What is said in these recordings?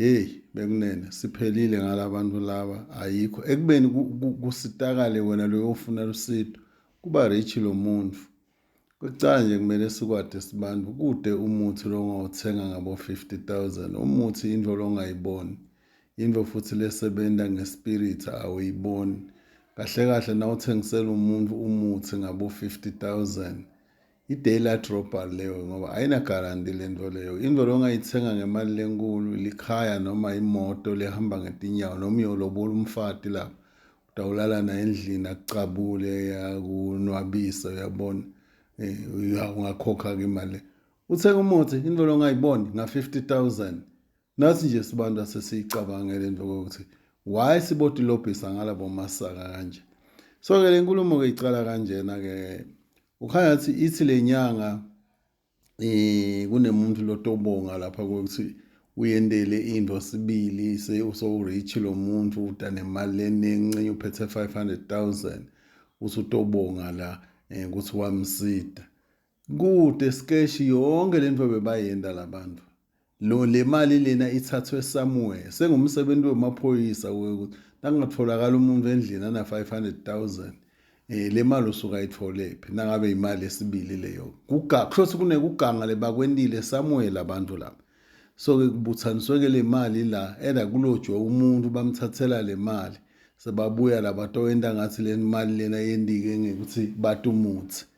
Hey bekunene siphelile ngalabantu laba ayikho ekubeni kusitakale wena loyo ofuna lusido kuba rich lo muntu kucala nje kumele sikwade sibantu kude umuthi lo ongawuthenga ngabo 50000 umuthi into lo ongayiboni into futhi lesebenza ngespirit awuyiboni kahle kahle nawuthengisela umuntu umuthi ngabo 50000 I-daylight robbery leyo ngoba ayinagaranti le nto leyo. Into le ongayithenga ngemali lenkulu likhaya noma imoto lehamba ngetinyawo noma uyolobola umfati lapho utawulala naye endlini akucabule akunwabise uyabona um ungakhokha-ke imali le uthenga umuthi into le ongayiboni nga-fifty thousand Nathi nje sibantu asesiyicabangele into ukuthi why sibotilobhisa ngalabo masaka kanje so ke le nkulumo ke icala kanjena ke ukhanya athi ithi le nyanga eh kunemuntu lotobonga lapha ukuthi uyendele into sibili se uso-rich lo muntu udane imali enincinci uphethe 500 000 usutobonga la um ukuthi wamsida Kude skeshi yonke lento bebayenda labantu. Lo le mali lena ithathwe somewhere. Sengumsebenzi wemaphoyisa ukuthi nakungatholakala umuntu endlini ana 500,000 eh le mali usuka itholephi nangabe imali esibili leyo. Kuga kusho kunekuganga lebakwentile somewhere labantu laba. So ke kubuthaniswe ke le mali la enda kulojwe umuntu bamthathela le mali. Sebabuya laba towenda ngathi le mali lena yendike ngekuthi batumuthi.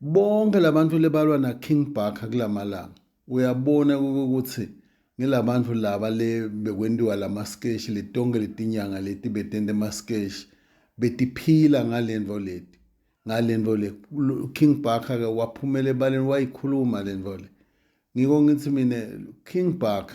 Bonke labantu lebalwa na King Bhaka kulamalanga uyabona ukuthi ngilabantu laba le bekwentiwa lama sketch letonke letinyanga leti betente ma sketch betiphila ngalento leti ngalento le King Bhaka ke waphumela ebaleni wayikhuluma lento le ngiko ngithi mina King Bhaka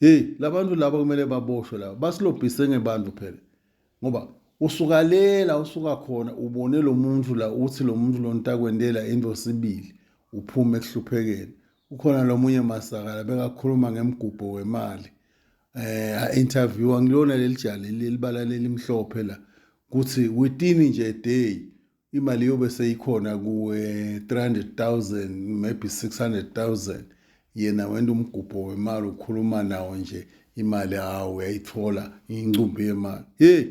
Hey labantu laba kumele baboshwe laba basilobhise ngebantu phela ngoba usukalela usuka khona ubone lo muntu la uthi lo muntu lo ntakwendela into sibili uphume ekuhluphekeni ukhona lo munye masakala bekakhuluma ngemgubho wemali eh interview angilona leli jali lelibala lelimhlophe la kuthi within nje day imali yobe seyikhona kuwe 300,000 maybe 600,000 yena wenda umgubho wemali ukhuluma nawo nje imali hawu uyayithola incumbi yemali hey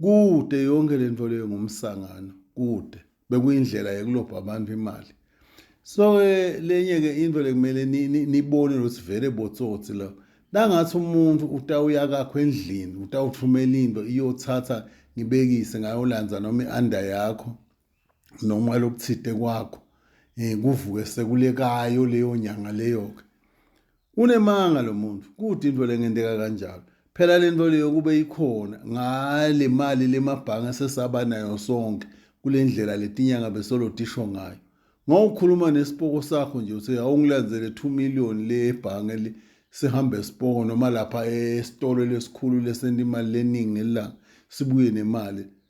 kude yonke lento leyo ngumsangano kude bekuyindlela yokulobha abantu imali so ke lenye ke into lekumele nibone ukuthi vele botsotsi la nangathi umuntu utawuya kakho endlini utawuthumela into iyothatha ngibekise ngayolandza noma i-under yakho noma lokuthide kwakho um kuvuke sekulekayo leyo nyanga leyo-ke Unemanga lo muntu, kude into lengenteka kanjalo. Phela le nto leyo kube ikhona ngale mali lemabhange esesaba nayo sonke kule ndlela letinyanga besolodisho ngayo. Ngawukhuluma nesipoko sakho nje uthe awungilandzele 2 million le ebhange le sihambe sipoko noma lapha esitolo lesikhulu lesenta imali leningi ngelanga sibuye nemali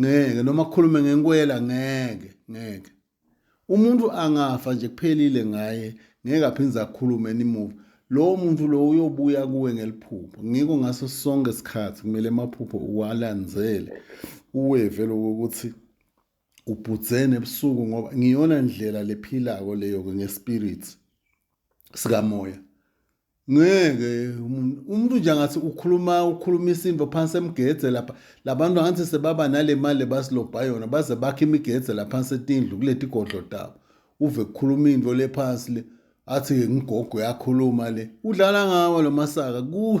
ngeke noma kukhulume ngenkwela ngeke ngeke umuntu angafa nje kuphelile ngaye ngeke aphinde akhulume nimuva lowo muntu lowo uyobuya kuwe ngeliphupho ngiko ngaso sonke isikhathi kumele amaphupho uwalandzele uweve lokho ukuthi ubhudzene ebusuku ngoba ngiyona ndlela lephilako leyo-ke ngespirit sikamoya ngeke umuntu umuntu nje angathi ukhuluma ukhuluma isimbo phansi emgedze lapha labantu angathi sebaba nale mali basilobha yona baze bakhe imigedze la phansi etindlu kuleti godlo tabo uve kukhuluma into le phansi le athi ke ngigogo yakhuluma le udlala ngawo lo masaka ku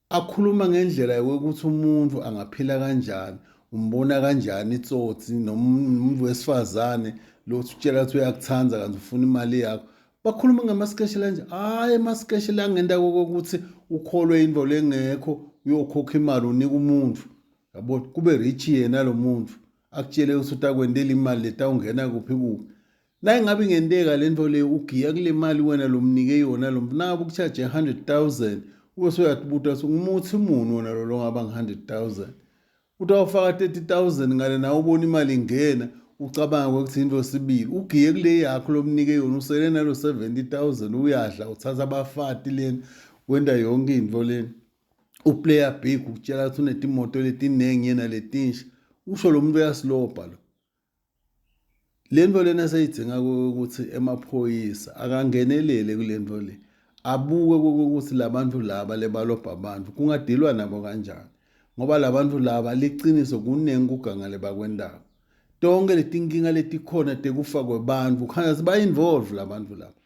Akhuluma ngendlela yokuthi umuntu angaphila kanjani, umbona kanjani itsotsi noma umuntu wesifazane lo utshela ukuthi uyakuthanda kanti ufuna imali yakho. Bakhuluma ngamaskeshe lanje, hhayi amaskeshe la ngenta kokuthi ukholwe into lengekho uyokhokha imali unika umuntu. Yabo kube rich yena lo muntu akutshele ukuthi utakwentela imali letawungena kuphi kuphi. La ingabe ingenteka le nto le ugiya kule mali wena lomnike yona lo mnabo kuchaje 100,000 ube soyatbuta ukuthi ngumuthi muni wona lo longaba nge-100,000 uthi awufaka 30,000 ngale nawe ubona imali ingena ucabanga ukuthi into sibili ugiye kule yakho lomnike yona usele nalo 70,000 uyadla uthatha abafati lena wenda yonke into lena uplayer big ukutshela ukuthi unetimoto letiningi yena letinsha usho lo muntu uyasilobha lo Le nto lena eseyidinga ukuthi emaphoyisa akangenelele kule nto le abuke kokuthi la bantu laba lebalobha abantu kungadilwa nabo kanjani ngoba la bantu laba liqiniso kuningi kugangale bakwendaba tonke letinkinga letikhona tekufa kwebantu khanya ziba-involve la bantu laba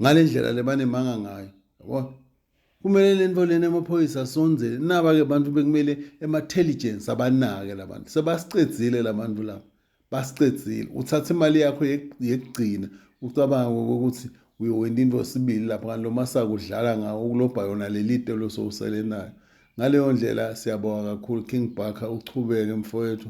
ngale ndlela le banemanga ngayo yabo kumele le nto lena emaphoyisa asonzele naba-ke bantu bekumele ema-telligence abanake la bantu sebasicedzile la bantu laba basicedzile uthatha imali yakho yekugcina ucabanga kokuthi uyowenza into sibili lapho kanti lo masaka udlala ngawo ukulobha yona leli te losowusele nayo ngaleyo ndlela siyabonga kakhulu king barker uchubeke mfowethu